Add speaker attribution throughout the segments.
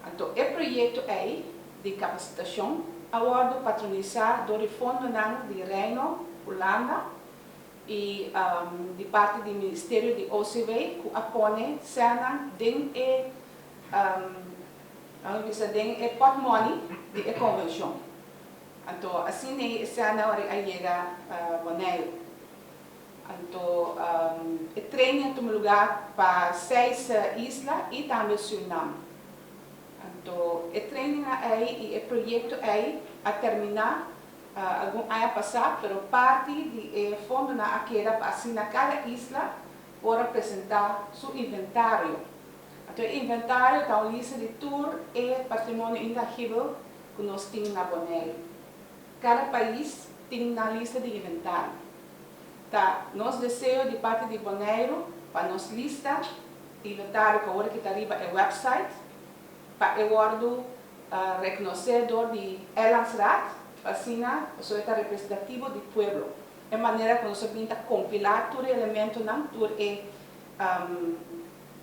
Speaker 1: Anto e proyekto ei di kapasitashon a wòrdu patronisá dor e fondonan di Reino Hulanda i di parti di Ministerio di OCW ku a pone sèlnan den e lamis bisa den e pòtmòni di e konvenshon. Anto asin'ei e sèlnan ora a yega Boneiru. Anto e tren a tuma lugá pa seis isla i tambe Surinam. Anto e trennan ei i e proyekto ei a terminá algun aña pasá pero parti di e fondonan a keda pa asina kada isla por a presentá su inventario. Anto e inventario ta un lista di tur e patrimonio intangibel ku nos tin na Bonaire. Kada pais tin nan lista di inventario. Ta nos deseo di parti di Boneiru pa nos lista y notado cu awor ki ta riba e website pa e wordo recnoce door di Eilandsraad pa asina boso e ta representativo di pueblo e manera cu nos a bin ta compila tur e elementonan tur e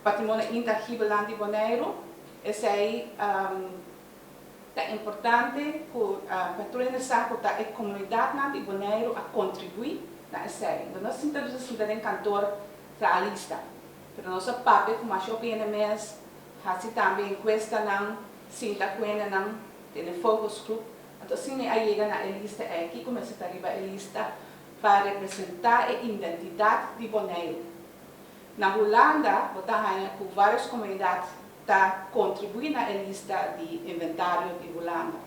Speaker 1: patrimonio intangibenan di Boneiru esey Ta importante cu patrul hende sa cu ta e comunidadnan di Boneiru a contribui na esei. Bo no a sinta dus a sinta den kantoor fla a lista, pero nos a papia cu masha hopi hende mes, haci tambe encuestanan, sinta cu hendenan, tene focus group, anto así mi a yega na e lista ei, kico mester ta riba e lista pa representa e identidad di Boneiru. Na Hulanda bo ta haya cu varios comunidad. ta kontribuí na e lista di inventario di Hulanda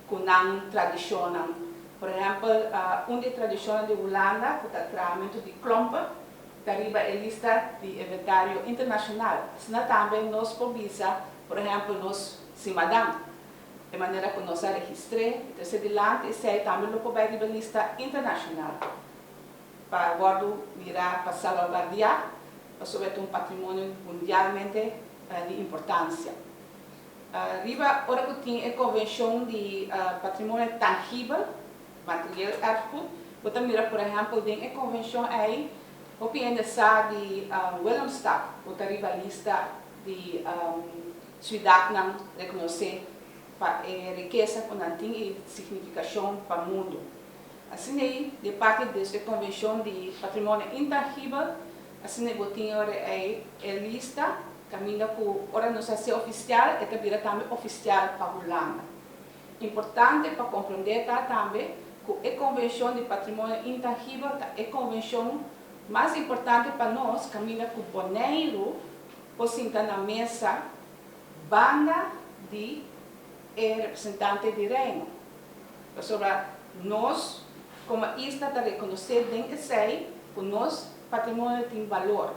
Speaker 1: ku nan tradishonnan. Por ehèmpel, un di e tradishonnan di Hulanda ku ta traamentu di klompe ta riba e lista di inventario internashonal. Asina tambe nos por bisa, por ehèmpel, nos simanan, e manera ku nos a registr'é i tras'é dilanti, esei tambe lo por bai riba lista internashonal. pa wòrdu mirá pa salvaguardiá pasobra e ta un patrimonio mundialmente di importansia. Riba ora ku tin e Konvenshon di Patrimonio Tangibel, Materieel Erfgoed, bo ta mira por ehèmpel den e konvenshon ei hopi hende sa di Willemstad ku ta riba lista di siudatnan rekonosé pa e rikesa ku nan tin i signifikashon pa mundu. Asin'ei, di parti des e Konvenshon di Patrimonio Intangibel, asin'ei bo tin ora ei e lista, kaminda ku ora nos hasié ofisial e ta bira tambe ofisial pa Hulanda. Importante pa komprondé ta tambe ku e Konvenshon di Patrimonio Intangibel ta e konvenshon mas importante pa nos kaminda ku Boneiru por sinta na mesa banda di e representante di Reino, pasobra nos komo isla ta rekonosé den esei ku nos patrimonio tin balor.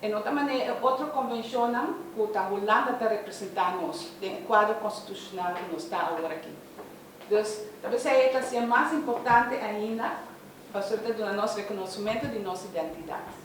Speaker 1: E no ta manera e otro konvenshonnan ku ta Hulanda ta representá nos den e kuadro konstitushonal ku nos ta awor aki. Dus, ta por esei e ta hasia mas importante ainda pasobra e ta duna nos rekonosimentu di nos identidat.